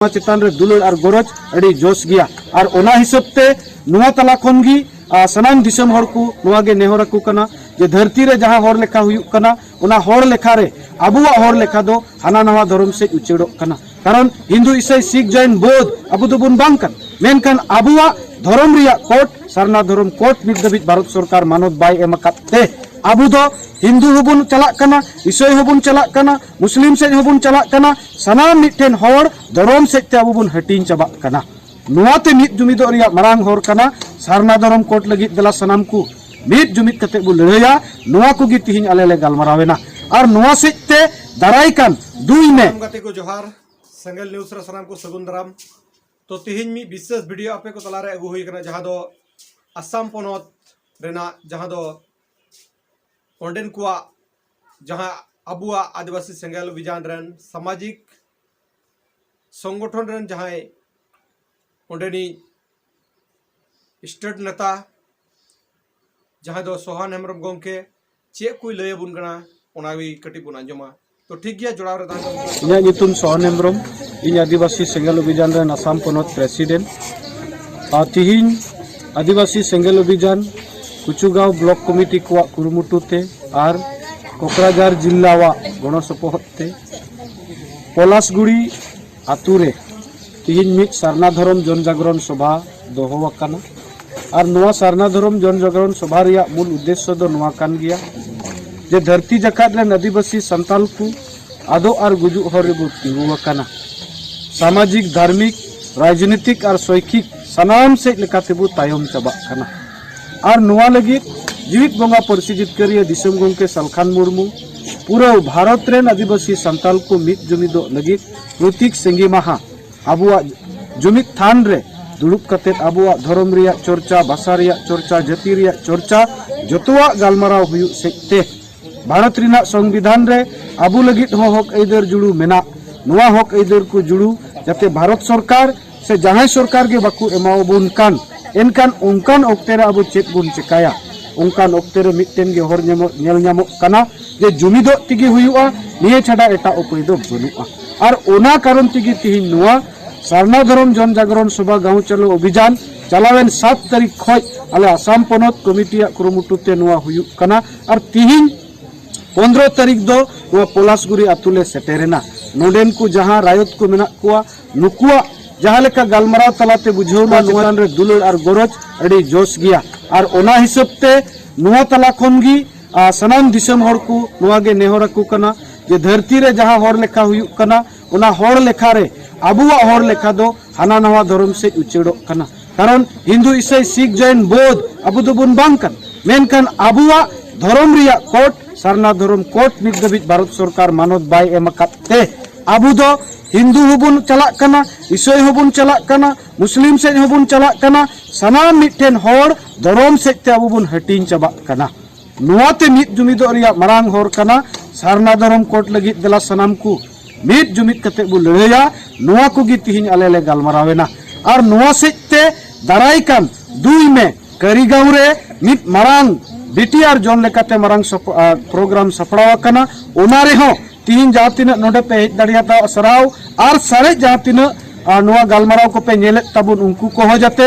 ᱱᱚᱣᱟ ᱪᱮᱛᱟᱱ ᱨᱮ ᱫᱩᱞᱟᱹᱲ ᱟᱨ ᱜᱚᱨᱚᱡᱽ ᱟᱹᱰᱤ ᱡᱚᱥ ᱜᱮᱭᱟ ᱟᱨ ᱚᱱᱟ ᱦᱤᱥᱟᱹᱵ ᱛᱮ ᱱᱚᱣᱟ ᱛᱟᱞᱟ ᱠᱷᱚᱱ ᱜᱮ ᱟᱨ ᱥᱟᱱᱟᱢ ᱫᱤᱥᱚᱢ ᱦᱚᱲ ᱠᱚ ᱱᱚᱣᱟ ᱜᱮ ᱱᱮᱦᱚᱨ ᱟᱠᱚ ᱠᱟᱱᱟ ᱡᱮ ᱫᱷᱟᱹᱨᱛᱤ ᱨᱮ ᱡᱟᱦᱟᱸ ᱦᱚᱲ ᱞᱮᱠᱷᱟ ᱦᱩᱭᱩᱜ ᱠᱟᱱᱟ ᱚᱱᱟ ᱦᱚᱲ ᱞᱮᱠᱷᱟ ᱨᱮ ᱟᱵᱚᱣᱟᱜ ᱦᱚᱲ ᱞᱮᱠᱷᱟ ᱫᱚ ᱦᱟᱱᱟ ᱱᱟᱣᱟ ᱫᱷᱚᱨᱚᱢ ᱥᱮᱫ ᱩᱪᱟᱹᱲᱚᱜ ᱠᱟᱱᱟ ᱠᱟᱨᱚᱱ ᱦᱤᱱᱫᱩ ᱤᱥᱟᱹᱭ ᱥᱤᱠᱷ ᱡᱚᱭᱱ ᱵᱳᱫᱷ ᱟᱵᱚ ᱫᱚᱵᱚᱱ ᱵᱟᱝ ᱠᱟᱱᱟ ᱢᱮᱱᱠᱷᱟᱱ ᱟᱵᱚᱣᱟᱜ ᱫᱷᱚᱨᱚᱢ ᱨᱮᱭᱟᱜ ᱠᱳᱰ ᱥᱟᱨᱱᱟ ᱫᱷᱚᱨᱚᱢ ᱠᱳᱰ ᱱᱤᱛ ᱫᱷᱟᱹᱵᱤᱡ ᱵᱷᱟᱨᱚᱛ ᱥᱚᱨᱠᱟᱨ ᱢᱟᱱᱚᱛ ᱵᱟᱭ ᱮᱢ ᱟᱠᱟᱫ ᱛᱮ ᱟᱵᱚ ᱫᱚ ᱦᱤᱱᱫᱩ ᱦᱚᱸᱵᱚᱱ ᱪᱟᱞᱟᱜ ᱠᱟᱱᱟ ᱤᱥᱟᱹᱭ ᱦᱚᱸᱵᱚᱱ ᱪᱟᱞᱟᱜ ᱠᱟᱱᱟ ᱢᱩᱥᱞᱤᱢ ᱥᱮᱫ ᱦᱚᱸᱵᱚᱱ ᱪᱟᱞᱟᱜ ᱠᱟᱱᱟ ᱥᱟᱱᱟᱢ ᱢᱤᱫᱴᱮᱱ ᱦᱚᱲ ᱫᱷᱚᱨᱚᱢ ᱥᱮᱫ ᱛᱮ ᱟᱵᱚ ᱵᱚᱱ ᱦᱟᱹᱴᱤᱧ ᱪᱟᱵᱟᱜ ᱠᱟᱱᱟ ᱱᱚᱣᱟᱛᱮ ᱢᱤᱫ ᱡᱩᱢᱤᱫᱚᱜ ᱨᱮᱭᱟᱜ ᱢᱟᱨᱟᱝ ᱦᱚᱨ ᱠᱟᱱᱟ ᱥᱟᱨᱱᱟ ᱫᱷᱚᱨᱚᱢ ᱠᱳᱰ ᱞᱟᱹᱜᱤᱫ ᱫᱮᱞᱟ ᱥᱟᱱᱟᱢ ᱠᱚ ᱢᱤᱫ ᱡᱩᱢᱤᱫ ᱠᱟᱛᱮ ᱵᱚ ᱞᱟᱹᱲᱦᱟᱹᱭᱟ ᱱᱚᱣᱟ ᱠᱚᱜᱮ ᱛᱤᱦᱤᱧ ᱟᱞᱮ ᱞᱮ ᱜᱟᱞᱢᱟᱨᱟᱣᱮᱱᱟ ᱟᱨ ᱱᱚᱣᱟ ᱥᱮᱫ ᱛᱮ ᱫᱟᱨᱟᱭ ᱠᱟᱱ ᱫᱩᱭ ᱢᱮ ᱜᱟᱛᱮ ᱠᱚ ᱡᱚᱦᱟᱨ ᱥᱮᱸᱜᱮᱞ ᱱᱤᱭᱩᱡᱽ ᱨᱮ ᱥᱟᱱᱟᱢ ᱠᱚ ᱥᱟᱹᱜᱩᱱ ᱫᱟᱨᱟᱢ ᱛᱚ ᱛᱤᱦᱤᱧ ᱢᱤᱫ ᱵᱤᱥᱮᱥ ᱵᱷᱤᱰᱤᱭᱳ ᱟᱯᱮ ᱠᱚ ᱛᱟᱞᱟᱨᱮ ᱟᱹᱜᱩ ᱦᱩᱭ ᱠᱟᱱᱟ ᱡᱟᱦᱟᱸ ᱫᱚ ᱟᱥᱟᱢ ᱯᱚᱱᱚᱛ ᱨᱮᱱᱟᱜ ᱡᱟᱦᱟᱸ ᱫᱚ ᱚᱸᱰᱮᱱ ᱠᱚᱣᱟᱜ ᱡᱟᱦᱟᱸ ᱟᱵᱚᱣᱟᱜ ᱟᱹᱫᱤᱵᱟᱹᱥᱤ ᱥᱮᱸᱜᱮᱞ ᱚᱵᱷᱤᱡᱟᱱ ᱨᱮᱱ ᱥᱟᱢᱟᱡᱤᱠ ᱥᱚᱝᱜᱚᱴᱷᱚᱱ ᱨᱮᱱ ᱡᱟᱦᱟᱸᱭ ᱚᱸᱰᱮᱱᱤᱡ ᱥᱴᱮᱴ ᱱᱮᱛᱟ ᱡᱟᱦᱟᱸᱭ ᱫᱚ ᱥᱚᱦᱟᱱ ᱦᱮᱢᱵᱨᱚᱢ ᱜᱚᱢᱠᱮ ᱪᱮᱫ ᱠᱚᱭ ᱞᱟᱹᱭ ᱟᱵᱚᱱ ᱠᱟᱱᱟ ᱚᱱᱟᱜᱮ ᱠᱟᱹᱴᱤᱡ ᱵᱚᱱ ᱟᱸᱡᱚᱢᱟ ᱛᱚ ᱴᱷᱤᱠ ᱜᱮᱭᱟ ᱡᱚᱲᱟᱣ ᱨᱮ ᱛᱟᱦᱮᱸ ᱤᱧᱟᱹᱜ ᱧᱩᱛᱩᱢ ᱥᱚᱦᱟᱱ ᱦᱮᱢᱵᱨᱚᱢ ᱤᱧ ᱟᱹᱫᱤᱵᱟᱹᱥᱤ ᱥᱮᱸᱜᱮᱞ ᱚᱵᱷᱤᱡᱟᱱ ᱨᱮᱱ ᱟᱥᱟᱢ ᱯᱚᱱᱚᱛ ᱯᱨᱮᱥᱤᱰᱮᱱᱴ ᱟᱨ ᱛᱤᱦᱤᱧ ᱟᱹᱫᱤᱵᱟᱹᱥᱤ ᱥᱮᱸᱜᱮᱞ ᱚᱵᱷᱤᱡᱟᱱ ᱠᱩᱪᱩᱜᱟᱸᱣ ᱵᱞᱚᱠ ᱠᱚᱢᱤᱴᱤ ᱠᱚᱣᱟᱜ ᱠᱩᱨᱩᱢᱩᱴᱩ ᱛᱮ ᱟᱨ ᱠᱚᱠᱨᱟᱡᱟᱨ ᱡᱤᱞᱞᱟᱣᱟᱜ ᱜᱚᱲᱚ ᱥᱚᱯᱚᱦᱚᱫ ᱛᱮ ᱯᱚᱞᱟᱥᱜᱩᱲᱤ ᱟᱛᱳ ᱨᱮ ᱛᱮᱦᱮᱧ ᱢᱤᱫ ᱥᱟᱨᱱᱟ ᱫᱷᱚᱨᱚᱢ ᱡᱚᱱ ᱡᱟᱜᱽᱨᱚᱱ ᱥᱚᱵᱷᱟ ᱫᱚᱦᱚ ᱟᱠᱟᱱᱟ ᱟᱨ ᱱᱚᱣᱟ ᱥᱟᱨᱱᱟ ᱫᱷᱚᱨᱚᱢ ᱡᱚᱱ ᱡᱟᱜᱽᱨᱚᱱ ᱥᱚᱵᱷᱟ ᱨᱮᱭᱟᱜ ᱢᱩᱞ ᱩᱫᱽᱫᱮᱥᱥᱚ ᱫᱚ ᱱᱚᱣᱟ ᱠᱟᱱ ᱜᱮᱭᱟ ᱡᱮ ᱫᱷᱟᱹᱨᱛᱤ ᱡᱟᱠᱟᱛ ᱨᱮᱱ ᱟᱹᱫᱤᱵᱟᱹᱥᱤ ᱥᱟᱱᱛᱟᱞ ᱠᱚ ᱟᱫᱚᱜ ᱟᱨ ᱜᱩᱡᱩᱜ ᱦᱚᱨ ᱨᱮᱵᱚ ᱛᱤᱸᱜᱩ ᱟᱠᱟᱱᱟ᱾ ᱥᱟᱢᱟᱡᱤᱠ, ᱫᱷᱟᱨᱢᱤᱠ, ᱨᱟᱡᱽᱱᱤᱛᱤᱠ ᱟᱨ ᱥᱚᱭᱠᱷᱤᱠ ᱥᱟᱱᱟᱢ ᱥᱮᱡ ᱞᱮᱠᱟᱛᱮ ᱵᱚ ᱛᱟᱭᱚᱢ ᱪᱟᱵᱟᱜ ᱠᱟᱱᱟ᱾ ᱟᱨ ᱱᱚᱣᱟ ᱞᱟᱹᱜᱤᱫ ᱡᱤᱣᱤᱫ ᱵᱚᱸᱜᱟ ᱯᱟᱹᱨᱥᱤ ᱡᱤᱛᱠᱟᱹᱨᱤᱭᱟᱹ ᱫᱤᱥᱚᱢ ᱜᱚᱢᱠᱮ ᱥᱟᱞᱠᱷᱟᱱ ᱢᱩᱨᱢᱩ ᱯᱩᱨᱟᱹᱣ ᱵᱷᱟᱨᱚᱛ ᱨᱮᱱ ᱟᱹᱫᱤᱵᱟᱹᱥᱤ ᱥᱟᱱᱛᱟᱞ ᱠᱚ ᱢᱤᱫ ᱡᱩᱢᱤᱫᱚᱜ ᱞᱟᱹᱜᱤᱫ ᱯᱨᱚᱛᱤᱠ ᱥᱤᱸᱜᱤ ᱢᱟᱦᱟ ᱟᱵᱚᱣᱟᱜ ᱡᱩᱢᱤᱫ ᱛᱷᱟᱱ ᱨᱮ ᱫᱩᱲᱩᱵ ᱠᱟᱛᱮ ᱟᱵᱚᱣᱟᱜ ᱫᱷᱚᱨᱚᱢ ᱨᱮᱭᱟᱜ ᱪᱚᱨᱪᱟ, ᱵᱷᱟᱥᱟ ᱨᱮᱭᱟᱜ ᱪᱚᱨᱪᱟ, ᱡᱟᱹᱛᱤ ᱨᱮᱭᱟᱜ ᱪᱚᱨᱪᱟ ᱡᱚᱛᱚᱣᱟᱜ ᱜᱟᱞᱢᱟᱨᱟᱣ ᱦᱩᱭᱩᱜ ᱥᱮᱡ ᱛᱮ᱾ ᱵᱷᱟᱨᱚᱛ ᱨᱮᱱᱟᱜ ᱥᱚᱝᱵᱤᱫᱷᱟᱱ ᱨᱮ ᱟᱵᱚ ᱞᱟᱹᱜᱤᱫ ᱦᱚᱸ ᱦᱚᱠ ᱟᱹᱭᱫᱟᱹᱨ ᱡᱩᱲᱩ ᱢᱮᱱᱟᱜ ᱱᱚᱣᱟ ᱦᱚᱠ ᱟᱹᱭᱫᱟᱹᱨ ᱠᱚ ᱡᱩᱲᱩ ᱡᱟᱛᱮ ᱵᱷᱟᱨᱚᱛ ᱥᱚᱨᱠᱟᱨ ᱥᱮ ᱡᱟᱦᱟᱸᱭ ᱥᱚᱨᱠᱟᱨ ᱜᱮ ᱵᱟᱠᱚ ᱮᱢᱟᱣᱟᱵᱚᱱ ᱠᱟᱱ ᱮᱱᱠᱷᱟᱱ ᱚᱱᱠᱟᱱ ᱚᱠᱛᱮ ᱨᱮ ᱟᱵᱚ ᱪᱮᱫ ᱵᱚᱱ ᱪᱮᱠᱟᱭᱟ ᱚᱱᱠᱟᱱ ᱚᱠᱛᱮ ᱨᱮ ᱢᱤᱫᱴᱮᱱ ᱜᱮ ᱦᱚᱨ ᱧᱟᱢᱚᱜ ᱧᱮᱞ ᱧᱟᱢᱚᱜ ᱠᱟᱱᱟ ᱡᱮ ᱡᱩᱢᱤᱫᱚᱜ ᱛᱮᱜᱮ ᱦᱩᱭᱩᱜᱼᱟ ᱱᱤᱭᱟᱹ ᱪᱷᱟᱰᱟ ᱮᱴᱟᱜ ᱩᱯᱟᱹᱭ ᱫᱚ ᱵᱟᱹᱱᱩᱜᱼᱟ ᱟᱨ ᱚᱱᱟ ᱠᱟᱨᱚᱱ ᱛᱮᱜᱮ ᱛᱮᱦᱮᱧ ᱱᱚᱣᱟ ᱥᱟᱨᱱᱟ ᱫᱷᱚᱨᱚᱢ ᱡᱚᱱ ᱡᱟᱜᱽᱨᱚᱱ ᱥᱚᱵᱷᱟ ᱜᱟᱶ ᱪᱟᱞᱚ ᱚᱵᱷᱤᱡᱟᱱ ᱪᱟᱞᱟᱣᱮᱱ ᱥᱟᱛ ᱛᱟᱹᱨᱤᱠᱷ ᱠᱷᱚᱡ ᱟᱞᱮ ᱟᱥᱟᱢ ᱯᱚᱱᱚᱛ ᱠᱚᱢᱤᱴᱤᱭᱟᱜ ᱠᱩᱨᱩᱢᱩᱴᱩ ᱛᱮ ᱱᱚᱣᱟ ᱦᱩᱭᱩᱜ ᱠᱟᱱᱟ ᱟᱨ ᱛᱤᱦᱤᱧ ᱯᱚᱱᱨᱚ ᱛᱟᱹᱨᱤᱠᱷ ᱫᱚ ᱱᱚᱣᱟ ᱯᱚᱞᱟᱥᱜᱩᱨᱤ ᱟᱛᱳ ᱞᱮ ᱥᱮᱴᱮᱨᱮᱱᱟ ᱱᱚᱰᱮᱱ ᱠᱚ ᱡᱟᱦᱟᱸ ᱨᱟᱭᱚᱛ ᱠᱚ ᱢᱮᱱᱟᱜ ᱠᱚᱣᱟ ᱱᱩᱠᱩᱣᱟᱜ ᱡᱟᱦᱟᱸ ᱞᱮᱠᱟ ᱜᱟᱞᱢᱟᱨᱟᱣ ᱛᱟᱞᱟᱛᱮ ᱵᱩᱡᱷᱟᱹᱣᱱᱟ ᱱᱚᱣᱟ ᱨᱮ ᱫᱩᱞᱟᱹᱲ ᱟᱨ ᱜᱚᱨᱚᱡᱽ ᱟᱹᱰᱤ ᱡᱚᱥ ᱜᱮᱭᱟ ᱟᱨ ᱚᱱᱟ ᱦᱤᱥᱟᱹᱵ ᱛᱮ ᱱᱚᱣᱟ ᱛᱟᱞᱟ ᱠᱷᱚᱱ ᱜᱮ ᱥᱟᱱᱟᱢ ᱫᱤᱥᱚᱢ ᱦᱚᱲ ᱠᱚ ᱱᱚᱣᱟ ᱜᱮ ᱱᱮᱦᱚᱨ ᱟᱠᱚ ᱠᱟᱱᱟ ᱡᱮ ᱫᱷᱟᱹᱨᱛᱤ ᱨᱮ ᱡᱟᱦᱟᱸ ᱦᱚᱲ ᱞᱮᱠᱟ ᱦᱩᱭᱩᱜ ᱠᱟᱱᱟ ᱚᱱᱟ ᱦᱚᱲ ᱞᱮᱠᱷᱟ ᱨᱮ ᱟᱵᱚᱣᱟᱜ ᱦᱚᱲ ᱞᱮᱠᱷᱟ ᱫᱚ ᱦᱟᱱᱟ ᱱᱟᱣᱟ ᱫᱷᱚᱨᱚᱢ ᱥᱮᱫ ᱩᱪᱟᱹᱲᱚᱜ ᱠᱟᱱᱟ ᱠᱟᱨᱚᱱ ᱦᱤᱱᱫᱩ ᱤᱥᱟᱹᱭ ᱥᱤᱠ ᱡᱚᱭᱱ ᱵᱳᱫᱷ ᱟᱵᱚ ᱫᱚᱵᱚᱱ ᱵᱟᱝ ᱠᱟᱱᱟ ᱢᱮᱱᱠᱷᱟᱱ ᱟᱵᱚᱣᱟᱜ ᱫᱷᱚᱨᱚᱢ ᱨᱮᱭᱟᱜ ᱠᱳᱰ ᱥᱟᱨᱱᱟ ᱫᱷᱚᱨᱚᱢ ᱠᱳᱰ ᱱᱤᱛ ᱫᱷᱟᱹᱵᱤᱡ ᱵᱷᱟᱨᱚᱛ ᱥᱚᱨᱠᱟᱨ ᱢᱟᱱᱚᱛ ᱵᱟᱭ ᱮᱢ ᱟᱠᱟᱫ ᱛᱮ ᱟᱵᱚ ᱫᱚ ᱦᱤᱱᱫᱩ ᱦᱚᱸᱵᱚᱱ ᱪᱟᱞᱟᱜ ᱠᱟᱱᱟ ᱤᱥᱟᱹᱭ ᱦᱚᱸᱵᱚᱱ ᱪᱟᱞᱟᱜ ᱠᱟᱱᱟ ᱢᱩᱥᱞᱤᱢ ᱥᱮᱫ ᱦᱚᱸᱵᱚᱱ ᱪᱟᱞᱟᱜ ᱠᱟᱱᱟ ᱥᱟᱱᱟᱢ ᱢᱤᱫᱴᱮᱱ ᱦᱚᱲ ᱫᱷᱚᱨᱚᱢ ᱥᱮᱫ ᱛᱮ ᱟᱵᱚ ᱵᱚᱱ ᱦᱟᱹᱴᱤᱧ ᱪᱟᱵᱟᱜ ᱠᱟᱱᱟ ᱱᱚᱣᱟᱛᱮ ᱢᱤᱫ ᱡᱩᱢᱤᱫᱚᱜ ᱨᱮᱭᱟᱜ ᱢᱟᱨᱟᱝ ᱦᱚᱨ ᱠᱟᱱᱟ ᱥᱟᱨᱱᱟ ᱫᱷᱚᱨᱚᱢ ᱠᱳᱰ ᱞᱟᱹᱜᱤᱫ ᱫᱮᱞᱟ ᱥᱟᱱᱟᱢ ᱠᱚ ᱢᱤᱫ ᱡᱩᱢᱤᱫ ᱠᱟᱛᱮ ᱵᱚ ᱞᱟᱹᱲᱦᱟᱹᱭᱟ ᱱᱚᱣᱟ ᱠᱚᱜᱮ ᱛᱤᱦᱤᱧ ᱟᱞᱮ ᱞᱮ ᱜᱟᱞᱢᱟᱨᱟᱣᱮᱱᱟ ᱟᱨ ᱱᱚᱣᱟ ᱥᱮᱡ ᱛᱮ ᱫᱟᱨᱟᱭ ᱠᱟᱱ ᱫᱩᱭ ᱢᱮ ᱠᱟᱹᱨᱤᱜᱟᱸᱣ ᱨᱮ ᱢᱤᱫ ᱢᱟᱨᱟᱝ ᱵᱤᱴᱤᱟᱨ ᱡᱚᱱ ᱞᱮᱠᱟᱛᱮ ᱢᱟᱨᱟᱝ ᱯᱨᱳᱜᱨᱟᱢ ᱥᱟᱯᱲᱟᱣ ᱟᱠᱟᱱᱟ ᱚᱱᱟ ᱨᱮᱦᱚᱸ ᱛᱤᱦᱤᱧ ᱡᱟᱦᱟᱸ ᱛᱤᱱᱟᱹᱜ ᱱᱚᱰᱮ ᱯᱮ ᱦᱮᱡ ᱫᱟᱲᱮᱭᱟᱫᱟ ᱥᱟᱨᱦᱟᱣ ᱟᱨ ᱥᱟᱨᱮᱡ ᱡᱟᱦᱟᱸ ᱛᱤᱱᱟᱹᱜ ᱱᱚᱣᱟ ᱜᱟᱞᱢᱟᱨᱟᱣ ᱠᱚᱯᱮ ᱧᱮᱞᱮᱫ ᱛᱟᱵᱚᱱ ᱩᱱᱠᱩ ᱠᱚᱦᱚᱸ ᱡᱟᱛᱮ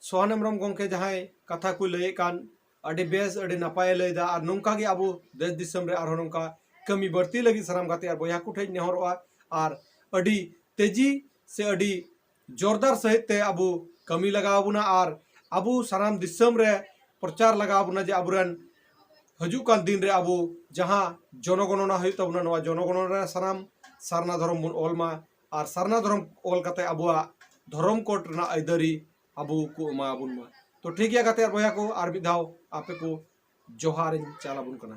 ᱥᱚᱦᱟᱱ ᱦᱮᱢᱵᱨᱚᱢ ᱜᱚᱢᱠᱮ ᱡᱟᱦᱟᱸᱭ ᱠᱟᱛᱷᱟ ᱠᱚ ᱞᱟᱹᱭᱮᱫ ᱠᱟᱱ ᱟᱹᱰᱤ ᱵᱮᱥ ᱟᱹᱰᱤ ᱱᱟᱯᱟᱭᱮ ᱞᱟᱹᱭᱫᱟ ᱟᱨ ᱱᱚᱝᱠᱟ ᱜᱮ ᱟᱵᱚ ᱫᱮᱥ ᱫᱤᱥᱚᱢ ᱨᱮ ᱟᱨᱦᱚᱸ ᱱᱚᱝᱠᱟ ᱠᱟᱹᱢᱤ ᱵᱟᱹᱲᱛᱤ ᱞᱟᱹᱜᱤᱫ ᱥᱟᱱᱟᱢ ᱜᱟᱛᱮ ᱟᱨ ᱵᱚᱭᱦᱟ ᱠᱚ ᱴᱷᱮᱱ ᱱᱮᱦᱚᱨᱚᱜᱼᱟ ᱟᱨ ᱟᱹᱰᱤ ᱛᱮᱡᱤ ᱥᱮ ᱟᱹᱰᱤ ᱡᱳᱨᱫᱟᱨ ᱥᱟᱹᱦᱤᱡ ᱛᱮ ᱟᱵᱚ ᱠᱟᱹᱢᱤ ᱞᱟᱜᱟᱣ ᱵᱚᱱᱟ ᱟᱨ ᱟᱵᱚ ᱥᱟᱱᱟᱢ ᱫᱤᱥᱚᱢ ᱨᱮ ᱯᱨᱚᱪᱟᱨ ᱞᱟᱜᱟᱣ ᱵᱚᱱᱟ ᱡᱮ ᱟᱵᱚᱨᱮᱱ ᱦᱤᱡᱩᱜ ᱠᱟᱱ ᱫᱤᱱ ᱨᱮ ᱟᱵᱚ ᱡᱟᱦᱟᱸ ᱡᱚᱱᱚᱜᱚᱱᱚᱱᱟ ᱦᱩᱭᱩᱜ ᱛᱟᱵᱚᱱᱟ ᱱᱚᱣᱟ ᱡᱚᱱᱚᱜᱚᱱᱚᱱᱟ ᱨᱮ ᱥᱟᱱᱟᱢ ᱥᱟᱨᱱᱟ ᱫᱷᱚᱨᱚᱢ ᱵᱚᱱ ᱚᱞ ᱢᱟ ᱟᱨ ᱥᱟᱨᱱᱟ ᱫᱷᱚᱨᱚᱢ ᱚᱞ ᱠᱟᱛᱮ ᱟᱵᱚᱣᱟᱜ ᱫᱷᱚᱨᱚᱢ ᱠᱳᱰ ᱨᱮᱱᱟᱜ ᱟᱹᱭᱫᱟᱹᱨᱤ ᱟᱵᱚ ᱠᱚ ᱮᱢᱟ ᱟᱵᱚᱱ ᱢᱟ ᱛᱚ ᱴᱷᱤᱠ ᱜᱮᱭᱟ ᱜᱟᱛᱮ ᱟᱨ ᱵᱚᱭᱦᱟ ᱠᱚ ᱟᱨ ᱢᱤᱫ ᱫᱷᱟᱣ ᱟᱯᱮ ᱠᱚ ᱡᱚᱦᱟᱨᱤᱧ ᱪᱟᱞ ᱟᱵᱚᱱ ᱠᱟᱱᱟ